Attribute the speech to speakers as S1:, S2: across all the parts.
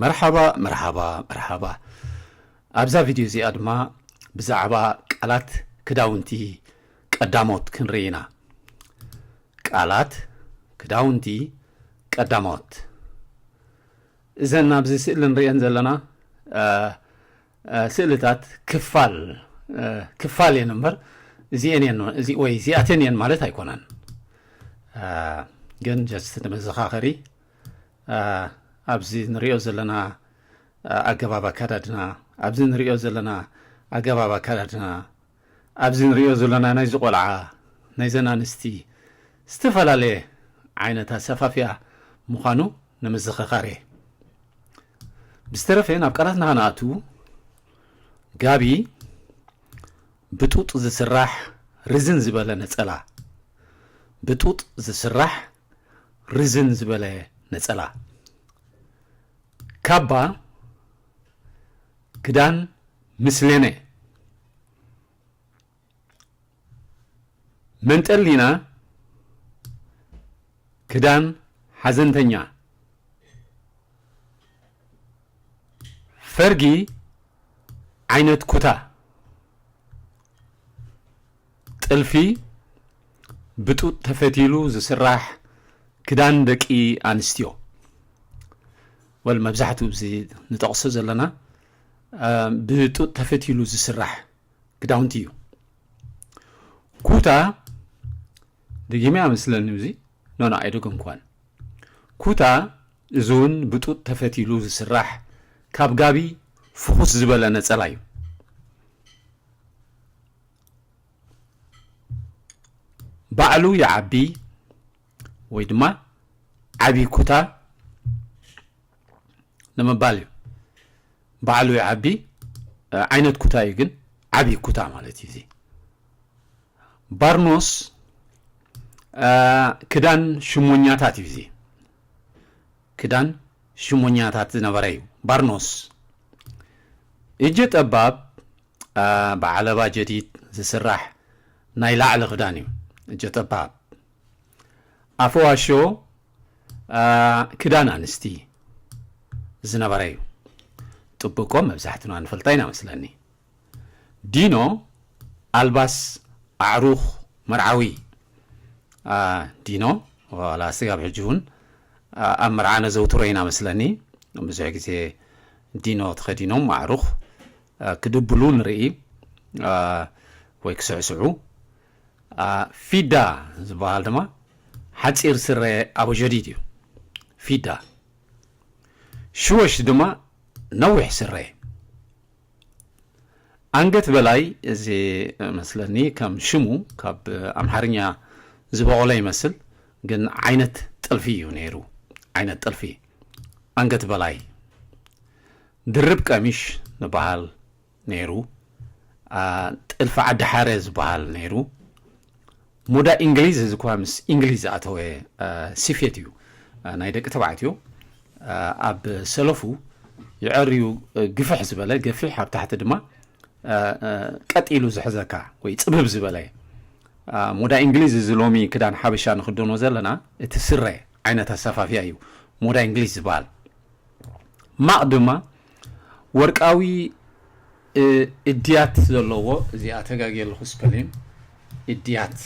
S1: መርሓባ መርሓባ መርሓባ ኣብዛ ቪድዮ እዚኣ ድማ ብዛዕባ ቃላት ክዳውንቲ ቀዳሞት ክንርኢ ኢና ቃላት ክዳውንቲ ቀዳሞት እዘን ኣብዚ ስእሊ ንሪእን ዘለና ስእልታት ክፋል ክፋል እየን እምበር እዚአን እየን እዚ ወይ እዚኣተን እየን ማለት ኣይኮነን ግን ጀስት ንመዘኻኸሪ ኣብዚ ንሪኦ ዘለና ኣገባብ ኣካዳድና ኣብዚ ንሪኦ ዘለና ኣገባብ ኣካዳድና ኣብዚ ንሪኦ ዘለና ናይዚ ቆልዓ ናይዘን ኣንስቲ ዝተፈላለየ ዓይነት ኣሰፋፍያ ምዃኑ ንምዝኸኻር እየ ብዝተረፈ ናብ ቃላትና ከነኣቱ ጋቢ ብጡጥ ዝስራሕ ርዝን ዝበለ ነፀላ ብጡጥ ዝስራሕ ርዝን ዝበለ ነጸላ ካባ ክዳን ምስሌነ መንጠሊና ክዳን ሓዘንተኛ ፈርጊ ዓይነት ኩታ ጥልፊ ብጡጥ ተፈቲሉ ዝስራሕ ክዳን ደቂ ኣንስትዮ ወል መብዛሕትኡ እዚ ንጠቕሶ ዘለና ብጡጥ ተፈቲሉ ዝስራሕ ክዳውንቲ እዩ ኩታ ደጊመ ኣመስለኒ እዚ ኖኖ ኣይደገምኳን ኩታ እዚ እውን ብጡጥ ተፈቲሉ ዝስራሕ ካብ ጋቢ ፍኹስ ዝበለ ነፀላ እዩ ባዕሉ ይዓቢ ወይ ድማ ዓብዪ ኩታ ንምባል እዩ ባዕሉ ይዓቢ ዓይነት ኩታ እዩ ግን ዓብዪ ኩታ ማለት እዩ እዚ ባርኖስ ክዳን ሽሞኛታት እዩ እዚ ክዳን ሽሞኛታት ዝነበረ እዩ ባርኖስ እጀ ጠባብ ብዓለባ ጀዲድ ዝስራሕ ናይ ላዕሊ ክዳን እዩ ጀጠባብ ኣፈዋሾ ክዳን ኣንስቲ ዝነበረ እዩ ጥብቆ መብዛሕትና ንፈልጣ ኢና መስለኒ ዲኖ ኣልባስ ኣዕሩኽ መርዓዊ ዲኖ ዋላ ስጋብ ሕጂ እውን ኣብ መርዓ ነዘውትሮ ኢና መስለኒ ብዙሕ ግዜ ዲኖ ተኸዲኖም ኣዕሩኽ ክድብሉ ንርኢ ወይ ክስዕስዑ። ፊዳ ዝበሃል ድማ ሓጺር ስረ ኣቡጀዲድ እዩ። ፊዳ ሽወሽ ድማ ነዊሕ ስረ ኣንገት በላይ እዚ መስለኒ ከም ሽሙ ካብ ኣምሓርኛ ዝበቆለ ይመስል ግን ዓይነት ጥልፊ እዩ ነይሩ ዓይነት ጥልፊ ኣንገት በላይ ድርብ ቀሚሽ ንበሃል ነይሩ ጥልፊ ዓዲ ሓረ ዝበሃል ነይሩ ሙዳ እንግሊዝ እዚ እኳ ምስ እንግሊዝ ዝኣተወ ስፌት እዩ ናይ ደቂ ተባዕትዮ ኣብ ሰለፉ ይዐርዩ ግፍሕ ዝበለ ገፊሕ ኣብ ታሕቲ ድማ ቀጢሉ ዝሕዘካ ወይ ፅብብ ዝበለ ሞዳ እንግሊዝ እዚ ሎሚ ክዳን ሓበሻ ንክደኖ ዘለና እቲ ስረ ዓይነት ኣሰፋፍያ እዩ ሞዳ እንግሊዝ ዝበሃል ማቕ ድማ ወርቃዊ እድያት ዘለዎ እዚኣ ተጋጊ ኣለኹ ስፐሊን እድያት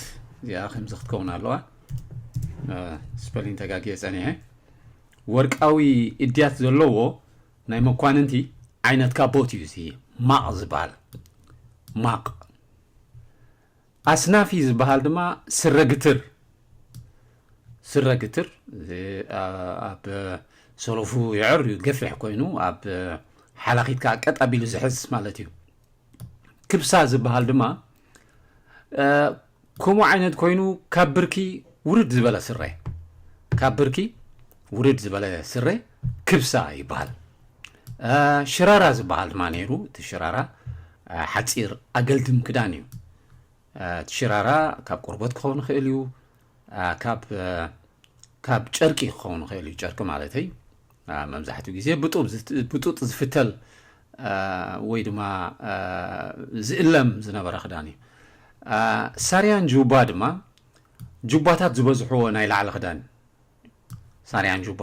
S1: እዚኣ ከምዚ ክትከውን ኣለዋ ስፐሊን ተጋጊየ ጸኒሐ ወርቃዊ እድያት ዘለዎ ናይ መኳንንቲ ዓይነት ካቦት እዩ እዚ ማቕ ዝበሃል ማቕ ኣስናፊ ዝበሃል ድማ ስረ ግትር፣ ስረ ግትር እዚ ኣብ ሰሎፉ የዕርዩ ገፊሕ ኮይኑ ኣብ ሓላኺት ከዓ ቀጥ ኣቢሉ ዝሕዝ ማለት እዩ። ክብሳ ዝበሃል ድማ ከምኡ ዓይነት ኮይኑ ካብ ብርኪ ውርድ ዝበለ ስረ ካብ ብርኪ ውርድ ዝበለ ስረ ክብሳ ይበሃል ሽራራ ዝበሃል ድማ ነይሩ እቲ ሽራራ ሓፂር ኣገልድም ክዳን እዩ እቲ ሽራራ ካብ ቆርቦት ክኸውን ይኽእል እዩ ካብ ጨርቂ ክኸውን ይኽእል እዩ ጨርቂ ማለተይ መብዛሕትኡ ግዜ ብጡጥ ዝፍተል ወይ ድማ ዝእለም ዝነበረ ክዳን እዩ ሳርያን ጁባ ድማ ጁባታት ዝበዝሕዎ ናይ ላዕሊ ክዳን ሳርያን ጁባ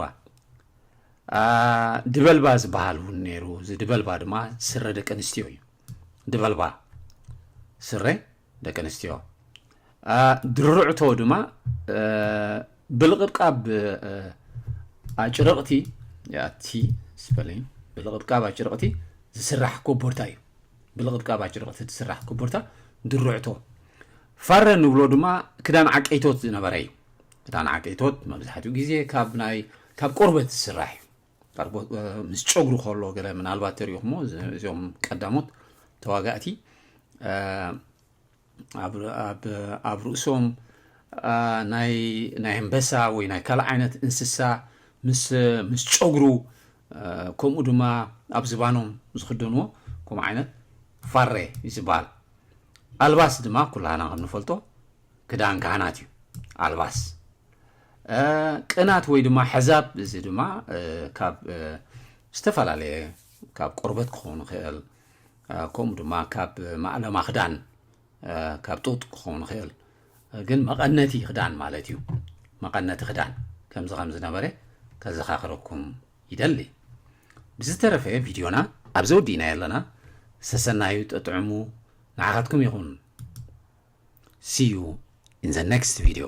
S1: ድበልባ ዝበሃል እውን ነይሩ እዚ ድበልባ ድማ ስረ ደቂ ኣንስትዮ እዩ ድበልባ ስረ ደቂ ኣንስትዮ ድርዕቶ ድማ ብልቕብቃብ ኣጭርቕቲ ያቲ ስፐሊን ብልቕብቃብ ኣጭርቕቲ ዝስራሕ ኮቦርታ እዩ ብልቕብቃብ ኣጭርቕቲ ዝስራሕ ኮቦርታ ድርዕቶ ፋረ ንብሎ ድማ ክዳን ዓቀይቶት ዝነበረ እዩ እታ ነዓቀይቶት መብዛሕትኡ ግዜ ካብ ናይ ካብ ቆርበት ዝስራሕ እዩ ምስ ጨጉሪ ከሎ ገለ ምናልባት ተሪእኹሞ እዚኦም ቀዳሞት ተዋጋእቲ ኣብ ርእሶም ናይ ኣንበሳ ወይ ናይ ካልእ ዓይነት እንስሳ ምስ ጨጉሩ ከምኡ ድማ ኣብ ዝባኖም ዝኽደንዎ ከምኡ ዓይነት ፋሬ እዩ ዝበሃል ኣልባስ ድማ ኩላህና ከም ንፈልጦ ክዳን ካህናት እዩ ኣልባስ ቅናት ወይ ድማ ሕዛብ እዚ ድማ ካብ ዝተፈላለየ ካብ ቆርበት ክኸውን ይኽእል ከምኡ ድማ ካብ ማእለማ ክዳን ካብ ጡጥ ክኸውን ይኽእል ግን መቐነቲ ክዳን ማለት እዩ መቐነቲ ክዳን ከምዚ ከም ዝነበረ ከዘኻኽረኩም ይደሊ ብዝተረፈ ቪድዮና ኣብዚ ወዲእናዮ ኣለና ሰሰናዩ ጥጥዕሙ ንዓኻትኩም ይኹን see you in the next video